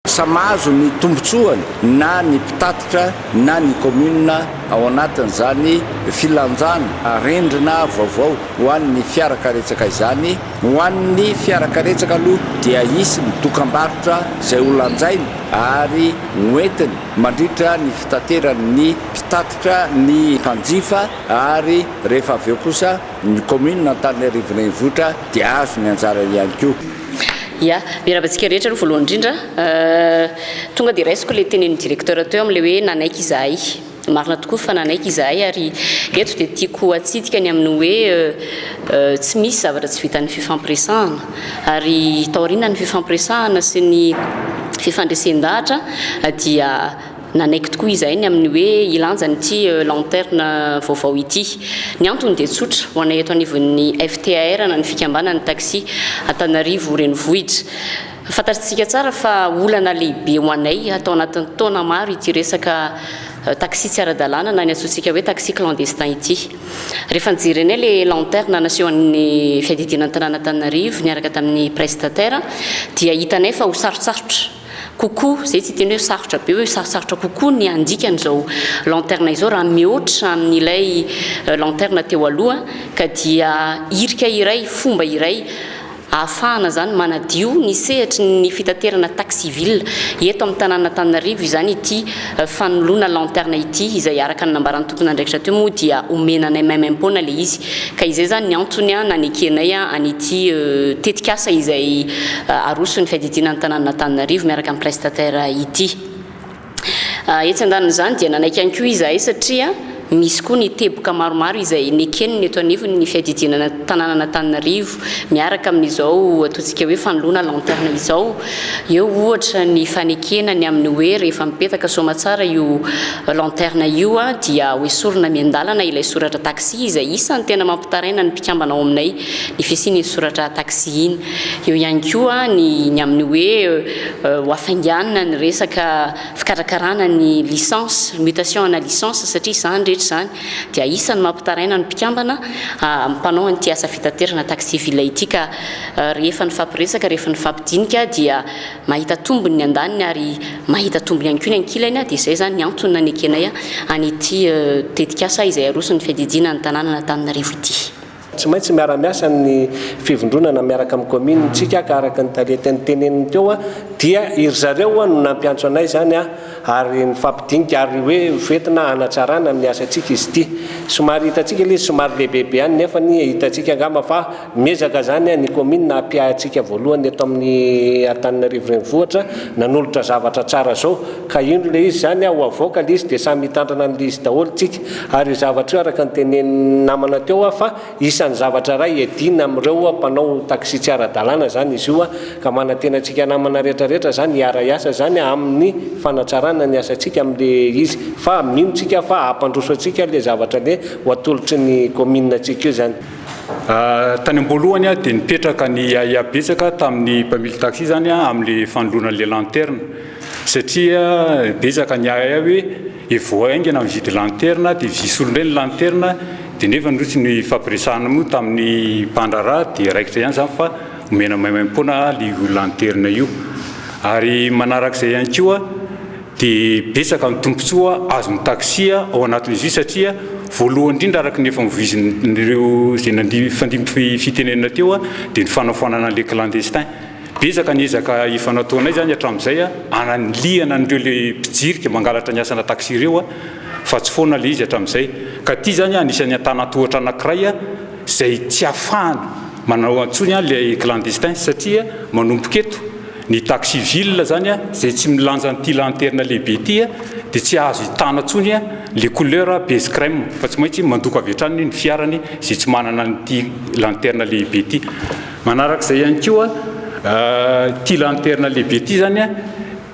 Samy mahazo ny tombontsoany na ny mpitatitra na ny kaominina ao anatin'izany filanjana arendrina vaovao ho an'ny fiarakaretsaka izany. Ho an'ny fiarakaretsaka aloha dia hisy ny dokambarotra izay ho lanjainy ary ho entiny mandritra ny fitateran'ny mpitatitra ny mpanjifa ary rehefa avy eo kosa, Ny kaominina Antananarivo Renivohitra dia hahazo ny anjarany ihany koa. Ya, miarahaba antsika rehetra aloha voalohany indrindra. Tonga dia raisiko ilay tenenin'ny directeur teo amin'ilay hoe nanaiky izahay. Marina tokoa fa nanaiky izahay ary eto dia tiako hatsidika ny amin'ny hoe tsy misy zavatra tsy vitan'ny fifampiresahana. Ary taorianan'ny fifampiresahana sy ny fifandresen-dahatra dia Nanaiky tokoa izahay ny amin'ny hoe hilanja an'ity lanterne vaovao ity. Ny antony dia tsotra, ho anay eto anivon'ny FTAR na ny fikambanan'ny taxi Antananarivo renivohitra. Fantatritsika tsara fa olana lehibe ho anay hatao anatin'ny taona maro ity resaka taxi tsy ara-dalàna na ny antsointsika hoe taxi clandestin ity. Rehefa nijerenay le lanterne nasehon'ny fiadidiana ny tanàn'Antananarivo niaraka tamin'ny prestataire dia hitanay fa ho sarotsarotra kokoa, izay tsy hiteny hoe sarotra be hoe sarotsarotra kokoa ny handika an'izao lanterne izao raha mihoatra amin'ilay lanterne teo aloha ka dia hirika iray, fomba iray ahafahana izany manadio ny sehatry ny fitaterana taxi-ville eto amin'ny tanànan'Antananarivo izany ity fanoloana lanterne ity izay araka ny nambaran'ny tompon'andraikitra teo moa dia omena anay maimaimpoana ilay izy ka izay izany ny antony nanekenay an'ity tetikasa izay aroson'ny fiadidiana ny tanànan'Antananarivo miaraka amin'ny prestataire ity. Etsy andanin'izany dia nanaiky ihany koa izahay satria Misy koa ny teboka maromaro izay nekeny ny eto anivon' ny fiadidinana tanànan' Antananarivo miaraka amin' izao ataontsika hoe fanoloana lanterne izao. Eo ohatra ny fanekena ny amin' ny hoe rehefa mipetaka soamatsara io lanterne io dia hoesorina miandalana ilay soratra taxi izay isan' ny tena mampitaraina ny mpikambana ao aminay ny fisian' iny soratra taxi iny. Eo ihany koa ny ny amin' ny hoe hoafainganina ny resaka fikarakarana ny licence, mutation ana licence, satria izany rehetra izany dia isany mampitaraina ny mpikambana mpanao an'ity asa fitaterana taxi ville ity ka rehefa nifampiresaka, rehefa nifampidinika dia mahita tombony ny andaniny ary mahita tombony ihany koa ny ankilany dia izay izany ny antony nanekenay an'ity tetikasa izay aroson'ny fiadidiana ny tanànan'Antananarivo ity. Tsy maintsy miara-miasa amin'ny fivondronana miaraka amin'ny commune ntsika aka araka ny tarieteny teneniny teo a, dia iry zareo oa no nampiantso anay izany a, ary nifampidinika ary hoe hoventina hanatsarana amin'ny asantsika izy ity. Somary hitantsika ilay izy somary lehibebe ihany nefany hitantsika angamba fa miezaka izany ny commune hampiahy antsika voalohany eto amin'ny Antananarivo Renivohitra nanolotra zavatra tsara izao ka indro ilay izy izany a, ho havoaka ilay izy dia samy hitandrina an'ilay izy daholo tsika. Ary zavatra io araka ny tenenin'ny namana teo aho fa isan'ny zavatra iray hiadiana amin'ireo mpanao taxi tsy ara-dalàna izany izy io ka manantena antsika namana rehetra rehetra izany hiara hiasa izany amin'ny fanatsarana ny asantsika amin'ilay izy fa mino tsika fa hampandroso antsika ilay zavatra le ho atolotry ny commune antsika io izany. Tany am-boalohany dia nipetraka ny ahiahy betsaka tamin'ny mpamily taxi izany amin'ilay fanoloana an'ilay lanterne satria betsaka ny ahiahy hoe dia vao haingana mividy lanterna dia vy solona eny ny lanterna dia nefa no tsy nifampiresahana moa tamin'ny mpandraharaha dia raikitra ihany izany fa omena maimaim-poana io lanterna io ary manarak'izay ihany koa dia betsaka ny tombontsoa azon'ny taxi ao anatin'izy io satria voalohany indrindra araka ny efa novoizin'ireo izay nifandimby fitenenana teo dia ny fanafoanana an'ilay clandestin Betsaka ny ezaka efa nataonay izany hatramin'izay hanalihana an'ireo ilay mpijirika mangalatra ny asana taxi ireo fa tsy foana ilay izy hatramin'izay. Ka ity izany anisan'ny antanan-tohatra anankiray izay tsy ahafahana manao intsony ilay clandestin satria manomboka eto ny taxi ville izany izay tsy milanja an'ity lanterna lehibe ity dia tsy azo hitana intsony ilay couleur base crème fa tsy maintsy mandoko avy hatrany ny fiarany izay tsy manana an'ity lanterna lehibe ity. Manaraka izay ihany koa, ity lanterne lehibe ity izany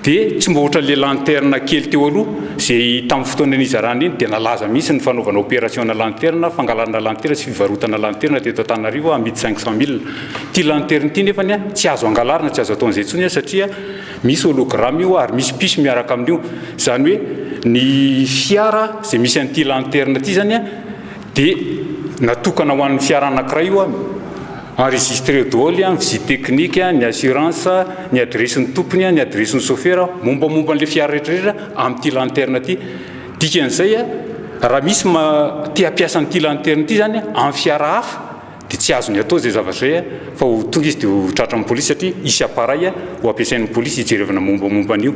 dia tsy mba ohatra ilay lanterne kely teo aloha, izay tamin'ny fotoana nizarana iny dia nalaza mihitsy ny fanaovana opération-na lanterne, fangalana lanterne sy fivarotana lanterne teto Antananarivo amidy cinq cent mille. Ity lanterne ity nefany tsy azo angalarina, tsy azo atao an'izay intsony satria misy hologramme io ary misy piso miaraka amin'io. Izany hoe ny fiara izay misy an'ity lanterne ity izany Dia natokana ho an'ny fiara anankiray io an! Enregistreo daholo an! Visite technique an, ny assurance, ny adiresin'ny tompony an, ny adiresin'ny sôfera, mombamomba an'ilay fiara rehetrarehetra amin'ity lanterne ity. Dikan'izay an, raha misy ma, te hampiasa an'ity lanterne ity izany an, amin'ny fiara hafa, dia tsy azony atao izay zavatra izay an! Fa ho tonga izy dia ho tratran'ny polisy satria hisy appareil an, ho ampiasain'ny polisy hijerevana mombamomba an'io.